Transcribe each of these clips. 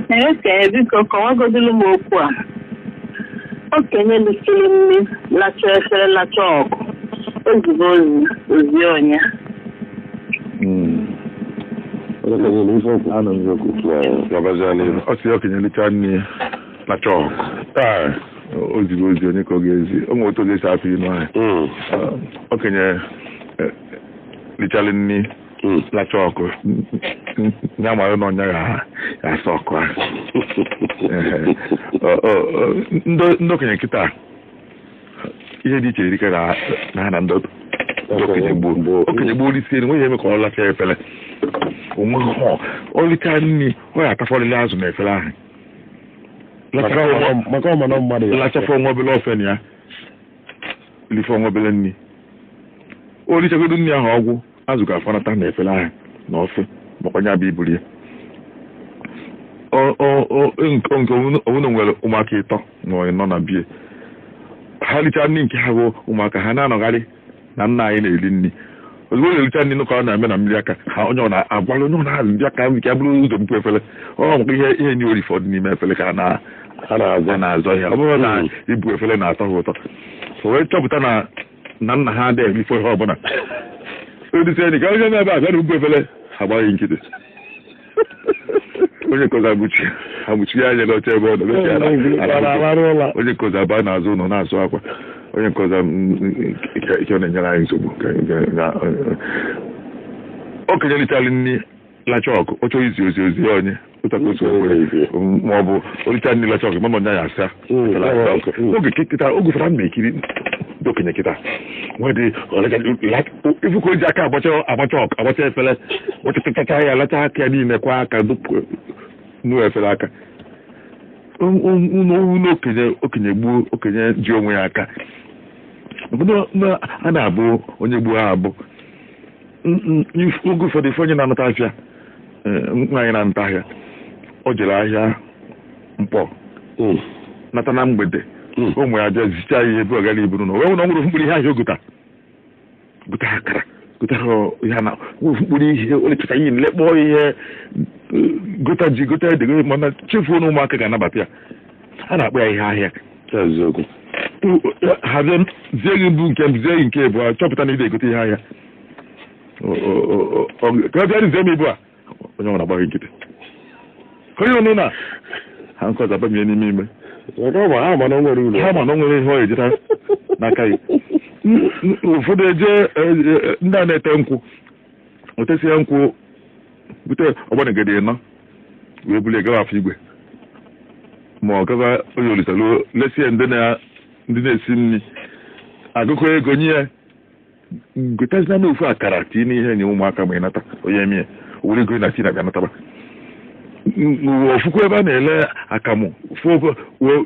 Eke, biko kọwagodulu m okwu a. Okenye lisiri nri, lacha efere, lacha ọkụ. O zibe ozi, o zie onye. Anọ m gị okwu. Gabazie n'ihu. Ọ sị ya okenye licha nri lacha ọkụ, o zibe ozi onye ka ọ ga-ezi. O nwere otu ọ ga-esi apụ inu ahụ. Okenye eh, lichalị nri hmm. lacha ọkụ ya mara na ọ nya ya-asa ọkụ ahụ ndị okenye kịta ihe dị iche erika na ha na ndị okenye gboo okenye gboo lisie o nweghị eme ka ọ lacha efere onwe ha o licha nri ọ ya-atafọlịlị azụ na efere ahụ lachafọ nwa obele ofe na ya lifọ nwa obele nri o richagodu nri ahụ ogwu azụ ga-afanata na efere ahụ na ofe maka onye abịa iburu ya nke ọ wụ na e nwere ụmụaka ịtọ nọ na be ha richaa nri nke ha bụ ụmụaka ha na-anọgharị na nna anyị na-eri nri ozugbo na-ericha nri nụkọ na-eme na mmiri aka ha onye ọ na-agwara onye ọ na-azụ ndị aka nke buru ụzọ bupụ efere ọ maka ihe ihe nri o rifọdụ n'ime efere ka a na-azọ ya ọ bụrọ na ibu efere na-atọ ha ụtọ o wee chọpụta na na nna ha adịghị erifọ ihe ọbụla o lisie nri ka onye nọ ebe a bịanụ buo efere agbaa ya nkịtị onye nke ọzọ abụchi abụchi ya anya n'oche ebe ọ nọ mechie ala- ala Ala arahụ ụla. onye nke ọzọ abaa n'azụ ụlọ na-asụ akwa onye nke ọzọ ike ọ na-enyere anyị nsogbu ka- ka- ka- okenye lichara nri lacha ọkụ ọ chọrọ izi ozi o zie onye otu a ka o si wee kwere. M- ma ọ bụ o richa nri lacha ọkụ mara na ọ nya ya-asa Mm, Lacha mm, ọkụ. mm. oge kị- kịta oge fara m na-ekiri ndị okenye kịta nwee dị ị fụ ka o ji aka agbacha agbacha ọkụ agbacha efere gbachatachacha ya lacha aka ya niile kwọọ aka dụpụ nuo efere aka Un- un- un- un okenye okenye gboo okenye ji onwe ya aka Obodo na- a na-abụ onye gboo abụ oge ụfọdụ ị fụ onye na-anata afịa nwaanyị na-anata ahịa o jere ahịa Nkpọ nata na mgbede ụmụ ya abịa zicha ihe ebe ọ gara iburu na o nwere ọnwụrụ mkpụrụ ihe ahịa o gota gota akara gotara ya na mkpụrụ ihe o lechata ihe lekpọọ ihe gota ji gota ede mana chefuo na ụmụaka ga-anabata ya a na-akpọ ya ihe ahịa eziokwu ha zie m- zie gị mbụ nke m zie gị nke ịbụọ chọpụta na ị na-egote ihe ahịa kpọọ bịanụ zie m ibu a onye ọbụna agbaa gị nkịtị ka onye ọnụ na ha nke ọzọ abamie n'ime ime maka ọ ma ha ma na o nwerọ uru ha ma na o nwerọ ihe ọ ya-erita n'aka gị ụfọdụ eje eh, eh, ndị a na-ete nkwụ o tesie nkwụ bute ọgbanigede ịnọ wee bulie gawa afọ igwe ma ọ gawa oye olisa lu lesie ndị na- ndị na-esi nri agụkọ ego nye ya gotazina na ofu akara tii n'ihe nye ụmụaka ma ị nata onye eme ya were ego na tii n'akpa nataba ọ fụkwu ebe a na-ele akamụ fụ ogo- wo-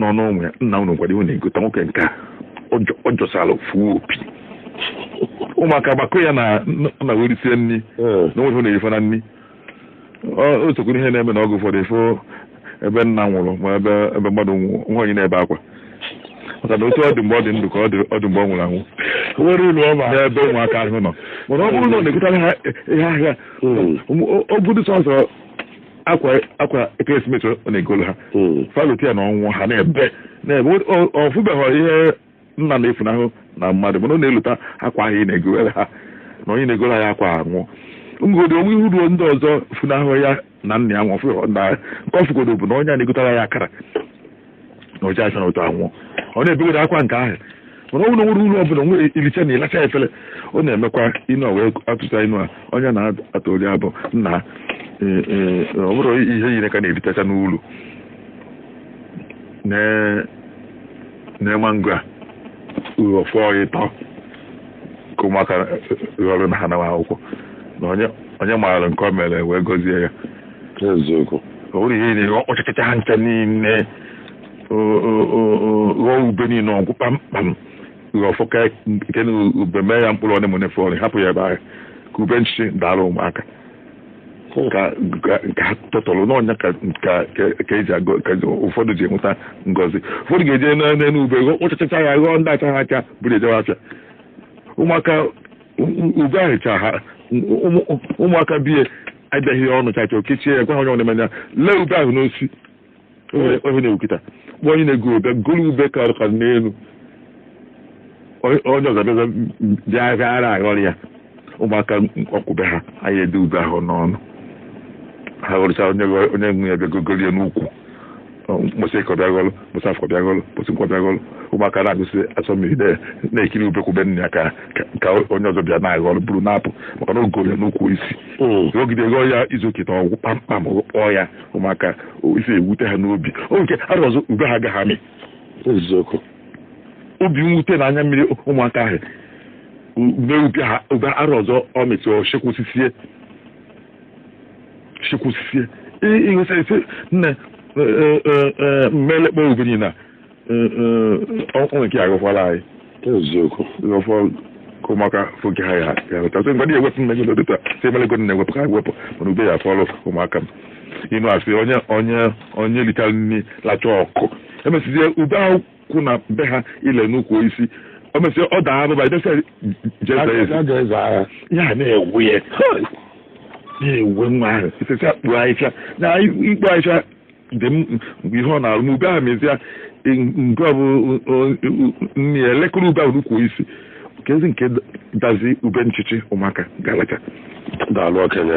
nọ n'onwe ya nna unu gwara ihe na-egote nwoke nke a ọ jọsara ofu opi ụmụaka gbakọ ya na na werisie nri hmm. na o nwe ife na-eri ife na nri o sokwuru ihe na-eme na ọgụ ụfọdụ ị fụ ebe nna nwụrụ ma ebe ebe mmadụ nwaanyị na-ebe akwa maka na otu ọ dị mgbe ọ dị ndụ ka ọ dị mgbe ọ nwụrụ anwụ nwerọ ulu ọ ba n'ebe ụmụaka ahụ nọ mana ọ bụrụ na ọ na-egotara ha ihe ahịa hmm. ọ bụrụ sọsọ akwa akwa ekeresimesi ọ na-egolu ha hmm. fa lota ya na ọnwụ ha na-ebe na-ebe ọ fụbeghị ihe nna na-efunahụ na mmadụ mana ọ na-elota akwa ahụ ị na-egowere ha na onye na-egoro ya akwa anwụọ ngodi o nwe ihe ruo ndị ọzọ funahụ ya na nna ya nwụfụghị ndị agha nke ọ fụgodo bụ na onye a na-egotara ya akara na o je acha na otu anwụọ ọ na-ebegoro akwa nke ahụ mana ọnwụ na nwere uru ọbụla nwere iricha na ịlacha efere ọ na-emekwa inu wee atụta inu a onye na-atụ oli bụ nna ha ee, ee, ọ bụrụ ihe yiri ka na-elicha n'ulu na- na mango a uru ọ fọ ịtọ ka ụmụaka ghọrọ na ha nawa akwụkwọ na onye onye maara nke o mere wee gọzie ya eziokwu o nwere ihe na-ere ọ kpọchịkọta ha ncha niile o- o- o- o- ghọọ ube niile ọ gwụ kpamkpam ghọọ fọ ka nke na ube mee ya mkpụrụ one na one fọrọ hapụ ya ebe ahụ ka ube nchi dara ụmụaka ka ka- ka ha tụtụrụ na ọ nya ka ka- ka- ka eji agọ ka ụfọdụ ji enweta ngọzi ụfọdụ ga-eje na- n'elu ube ghọọ- kpọchachacha ya ghọọ ndị achaghị acha buru jewe afịa ụmụaka u- u- ube ahụ chaa ụmụ- ụmụaka bie edeghị ya ọnụ chacha o kechie ya gwa ha onye ọnụ manya lee ube ahụ n'osi o nwere onye na-ewukịta kpọọ onye na-ego ube golu ube ka ọrụ ka n'elu onye onye ọzọ bịaza bịa bịa ara aghọrọ ya ụmụaka ọ kwụbe ha anaghị ede ube ahụ n'ọnụ ha ghọrịcha onye onye nwe ya bịa gogolie n'ukwu mbọsị eke ọ bịa ghọlụ mbọsị afọ bịa ghọlụ mbọsị nkwọ bịa ghọlụ ụmụaka na-agbụsị asọ mmiri na- na-ekiri ube ukwu ube nna ya ka ka- ka onye ọzọ bịa na-aghọlụ buru na-apụ maka na o goro ya n'ukwu isi ogide ghọọ ya izu oketa ọ gwụ kpamkpam kpọọ ya ụmụaka o, isi ewute ha n'obi oge arọ ọzọ ube ha agaghị amị eziokwu obi nwute na anya mmiri ụmụaka ahụ mee ube ha ube arọ ọzọ ọ mịtụ ọchịkwụsisie chekwusisie ịghọta ise nne mmelekpọ ube niile o nwee nke aghọkwala anyị eziokwu ghọfọ ka ụmụaka foke ha ya ya weta sị ngwa dị ewepụ mmegị n'obi taa sị emelego na-ewepụ ka ha wepụ mana ube ya fọlụ ụmụaka m inu a sị onye onye onye lichara nri lachaa ọkụ emesizie ube ahụ kwụ na be ha ile n'ukwu osisi o mesịa ọ daa abụba idesa jeza ezi ya na-ewe ya na-ewe nwa ahụ isesi akpo ahịhịa na ikpo ahịhịa dị mgbe ihe ọ na-arụ ma ube ahụ mezie nke ọ bụ nne ya elekere ube ahụ n'ukwu osisi ka ezi nke dazi ube nchichi ụmụaka ga-alacha daalụ okenye